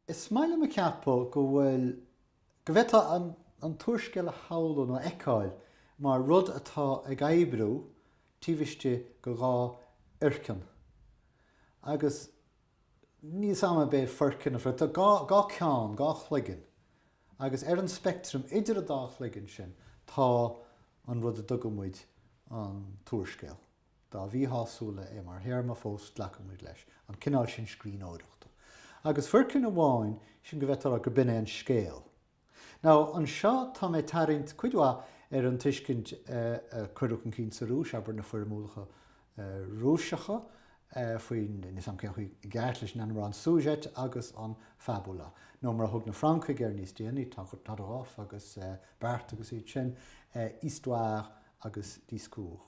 Is maith liom a cheapadh go bhfuil, go bhféadfá an t-úrscéal a shamhlú nó a fheiceáil mar rud atá ag oibriú taobh istigh de dhá fhoirceann, agus níl 'fhios a'm ab é foirceann an phoirt, tá dhá cheann, dhá chloigeann, agus ar an speictream idir an dá chloigeann sin tá an rud a dtugaimid an t-úrscéal. Dá mhíshásúla é mar théarma fós glacaimid leis an cineál sin scríbhneoireachta. Agus foirceann amháin, sin go bhféadfá a rá gur b'in é an scéal. Nó anseo tá mé ag tarraingt cuid mhaith ar an tuiscint a cuireadh chun cinn sa Rúis, abair, na foirmiúlacha Rúiseacha faoin, níl 'fhios a'm cén chaoi i gceart leis an ainm a rá, an sujet agus an fabula. Nó mar a thug na Francaigh air níos déanaí, Todorov agus Barthes agus iad sin, histoire agus discours.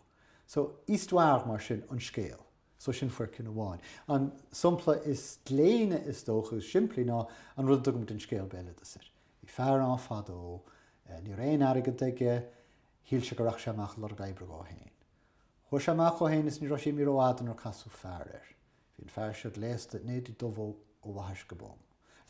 So, histoire, mar sin, an scéal. So, sin foirceann amháin. An sampla is gléine, is dócha, is simplí ná an rud a dtugaimid an scéal béaloideasa air. Bhí fear ann fadó. Ní raibh aon airgead aige. Shíl sé go rachadh sé amach ag lorg oibre dhó féin. Chuaigh sé amach dhó féin is ní raibh sé imithe rófhada nuair casadh fear air. Bhí an fear seo gléasta in éadaí dubha ó bhaithis go bonn.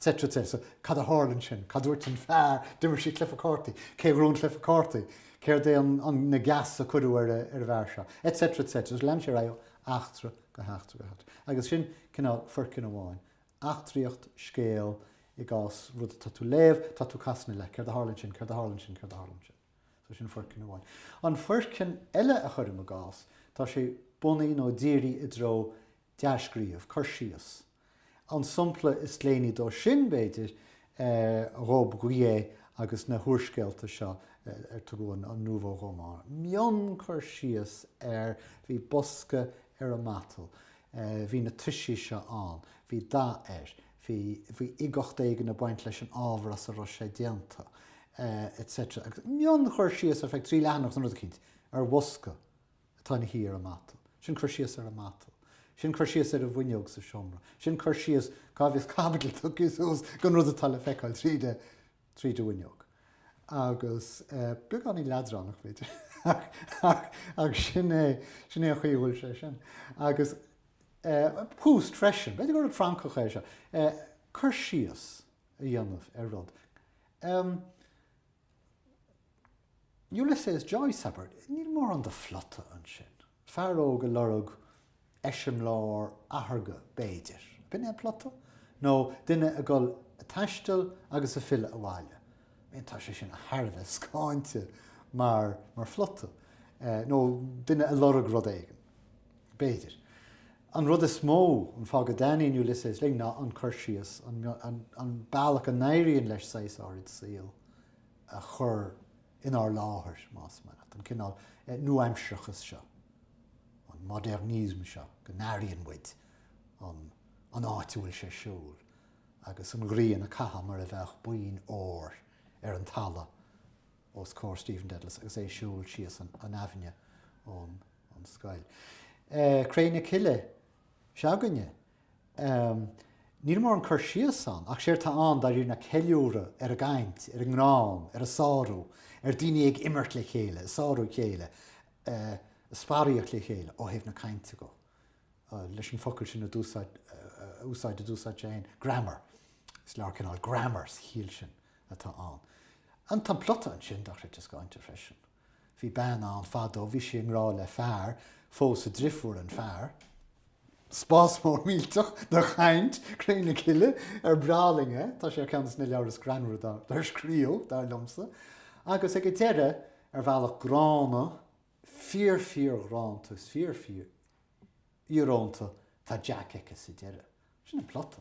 etc. etc. So, cad a tharla ansin? Cad dúirt an fear? D'imir sí cluife cártaí. Cé a ghnóthaigh an cluife cártaí? Céard é an, na geasa a cuireadh ar an bhfear seo? Etc. etc. Agus lean sé ar aghaidh ó eachtra go heachtra go heachtra. Agus sin cineál foirceann amháin. Eachtraíocht, scéal, i gcás rud atá tú léamh, tá tú casadh na le. Céard a tharla ansin? Céard a tharla ansin? Céard a tharla ansin? So sin foirceann amháin. An foirceann eile a chuirim i gcás, tá sé bunaithe nó dírithe i dtreo dea-scríobh, cur síos. An sampla is gléiní dó sin, b'fhéidir, Robbe-Grillet agus na húrscéalta seo ar tugadh an Nouveau Roman. Mion-chur síos ar bhí bosca ar an matal, bhí na toisí seo ann, bhí dath air, Bhí uigeacht éigin ag baint leis an ábhar as a raibh sé déanta, etc. Agus mion-chur síos ar feadh trí leathanach san rud eicínt ar bhosca atá ina shuí ar an matal, sin cur síos ar an matal, sin cur síos ar an bhfuinneog sa seomra, sin cur síos cá bhfios caibidil tugtha suas gon rud atá le feiceáil tríd an. tríd an bhfuinneog. Agus beagáinín leadránach, b'fhéidir, ach sin é an chaoi a bhfuil sé sin. Agus Proust freisin. B'fhéidir gur rud Francach é seo. Cur síos a dhéanamh ar rud. Ulysses Joyce, abair, níl mórán de phlota ansin. Fear óg ag lorg eiseamláir atharga, b'fhéidir. B'in é an plota? Nó duine ag dul ag taisteal agus ag filleadh abhaile? Bhuel, tá sé sin thar a bheith scáinte mar phlota. Nó duine ag lorg rud éigin, b'fhéidir. An rud is mó, an fáth go dtaitníonn Ulysses linn ná an cur síos, an bealach a n-éiríonn leis saghas áirid saol a chur inár láthair, más maith leat, an cineál nuaaimsearachais seo, an modernisme seo go n-airíonn muid an áit a bhfuil sé ar siúl agus an ghrian á caitheamh mar a bheadh boinn óir ar an talamh os comhair Stephen Dedalus agus é ag siúl síos an aibhinne ón scoil. Cré na Cille s'againne. Ehm. níl mórán cur síos ann, ach séard tá ann, dáiríre, ná ceiliúradh ar an gcaint, ar an ngreann, ar an sárú, ar daoine ag imirt le chéile, ag sárú a chéile, ag sparaíocht le chéile, ó thaobh na cainte dhó, leis an focal sin a úsáid, a d'úsáid sé féin, grammar. Is leabhar cineál grammar sa chiall sin atá ann. An, tá an plota ansin, dochreidte scáinte freisin. Bhí bean ann fadó, bhí sí i ngrádh le fear, phós a drifúr an fear. Spás mór millteach de chaint, Cré na Cille ar breá linn é, tá sé ar cheann de na leabhair is greannmhaire dár scríobhadh, dar liomsa, agus ag an deireadh, ar bhealach gránta, fíor-fhíorghránta is fíor-fhíor íorónta, tá Jack aici sa deireadh. Sin an plota.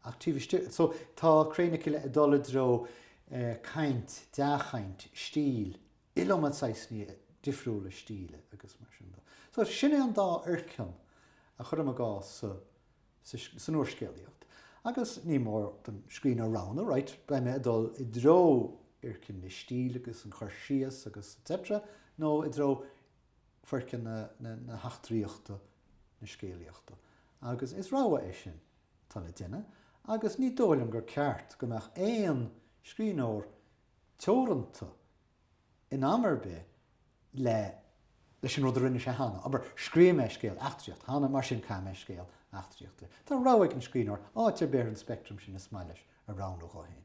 Ach taobh istigh de, so, tá Cré na Cille ag dul i dtreo caint, dea-chaint, stíl, iliomad saghsanna difriúla stíle agus mar sin de. So, sin é an dá fhoirceann a chuirim i gcás sa, sa, san úrscéalaíocht. Agus ní mór don scríbhneoir roghnú, right, beidh mé ag dul i dtreo fhoirceann na stíle agus an chur síos agus etc, nó i dtreo foirceann na heachtraíochta, na scéalaíochta. Agus is rogha é sin atá le duine agus ní dóigh liom gur ceart go mbeadh aon scríbhneoir teoranta in am ar bith le leis an rud a rinne sé cheana. Abair, scríobh mé scéal eachtraíochta cheana, mar sin caithfidh mé scéal eachtraíochta. Tá rogha ag an scríbhneoir áit ar bith ar an speictream sin is maith leis a roghnú dhó féin.